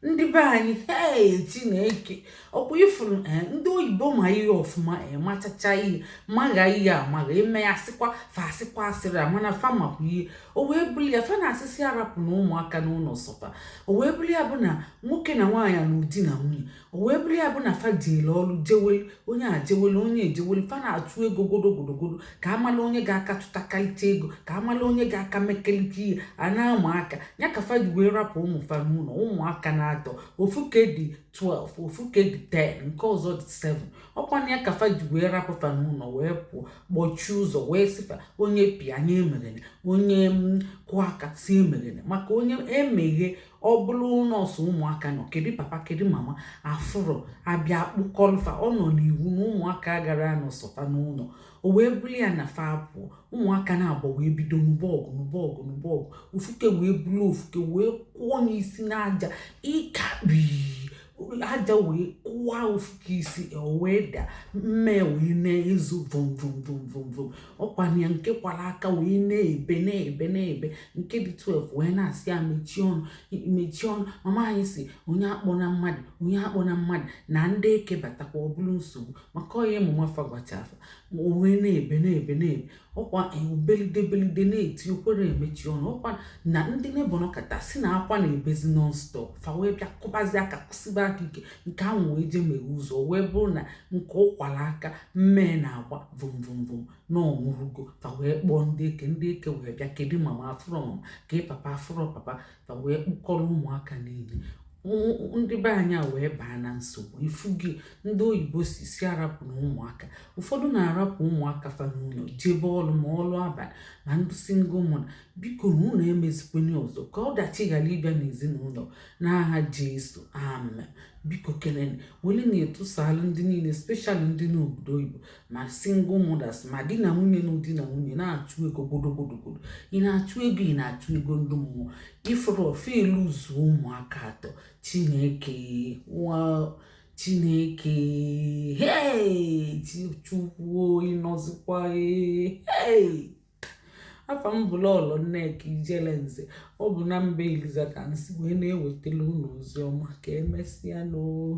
ndị be anyị hei chineke ọkwa ifuru eh, ndị oyibo ma ihe ọfụma eh, machacha ihe magha ihe amagha eme ya sịkwa fa sịkwa asịrị amana fa makwa ihe o wee bụrụ ya fa na-asị sị arapụna ụmụaka n'ụlọ sọ fa o wee bụrụ ya bụ na nwoke na nwaanyị na ọ di na nwunye o wee bụrụ ya bụ na fa jeele ọrụ jewelu onye a jewelu onye ejewelu fa na-achụ ego godogodogodo ka amala onye ga-aka tụtakalite ego ka amala onye ga-aka mekelite ihe a na-ama aka ya ka fa ji wee rapụ ụmụ fa n'ụlọ ụmụaka n'atọ ofu ke dị 12 ofu ke dị 10 nke ọzọ dị 7 ọkwa na ya ka fa ji wee rapụ fa n'ụlọ wee pụọ kpọchie ụzọ wee sị fa onye bịa onye emeghene onye kụọ aka sị emeghene maka onye emeghe ọ bụrụ na ọ sọ ụmụaka nọ kedu papa kedu mama afụrọ a bịa kpụkọlụ fa ọ nọ n'iwu na ụmụaka agara anọ sọ fa n'ụlọ o wee bụlụ ya na fa pụọ ụmụaka naabọ wee bido nụba ọgụ nụba ọgụ nụba ọgụ ofuke wee bulu ofuke wee kụọ n'isi n'aja ịkakpi aja wee kụwa ofuke isi wee da mmee wee na-ezo vomvomvomvomvom ọkwa na ya nke kwara aka wee na-ebe na-ebe na-ebe nke dị 12 wee na-asị ya mechie ọnụ mechie ọnụ mama anyị sị onye akpọna mmadụ onye akpọna mmadụ na ndị eke batakwa ọ bụrụ nsogbu maka ọ ihe mama fa gwacha fa wee na-ebe na-ebe na-ebe ọkwa o wee belide belide na-eti o kwerọ emechi ọnụ ọkwa na ndị neighbour nọkata sị na akwa na-ebezi nonstop fa wee bịa kụbazi aka kụsiba aka ike nke ahụ wee jee meghe ụzọ wee bụrụ na nke ọ kwara aka mmee na-agba vomvomvom na ọ nwụrụgo fa wee kpọọ ndị eke ndị eke wee bịa kedu mama afụrọ mama kee papa afụrọ papa fa wee kpụkọrọ ụmụaka niile ndị be anyị a wee baa na nsogbu ị fụgo ihe ndị oyibo sị sị arapụna ụmụaka ụfọdụ na-arapụ ụmụaka fa n'ụlọ jebe ọrụ ma ọrụ abalị na ndị single mother bikonụ unu emezikwana ya ọzọ ka ọdachi ghara ịbịa n'ezinụlọ n'aha jesu amen biko kelene wele na-etusalụ ndị niile especially ndị n'obodo oyibo ma single mothers ma di na nwunye na ọ di na nwunye na-achụ ego godogodogodo ị na-achụ ego ị na-achụ ego ndị mmụọ ị fụrọ ife luzuo ụmụaka atọ chineke nwa chineke hei chukwu ị nọzikwa hei afa m bụ lọlọ nneka ijele nze ọ bụ na mba eliza ka m si wee na-ewetara unu ozi ọma ka emesịa nụ oo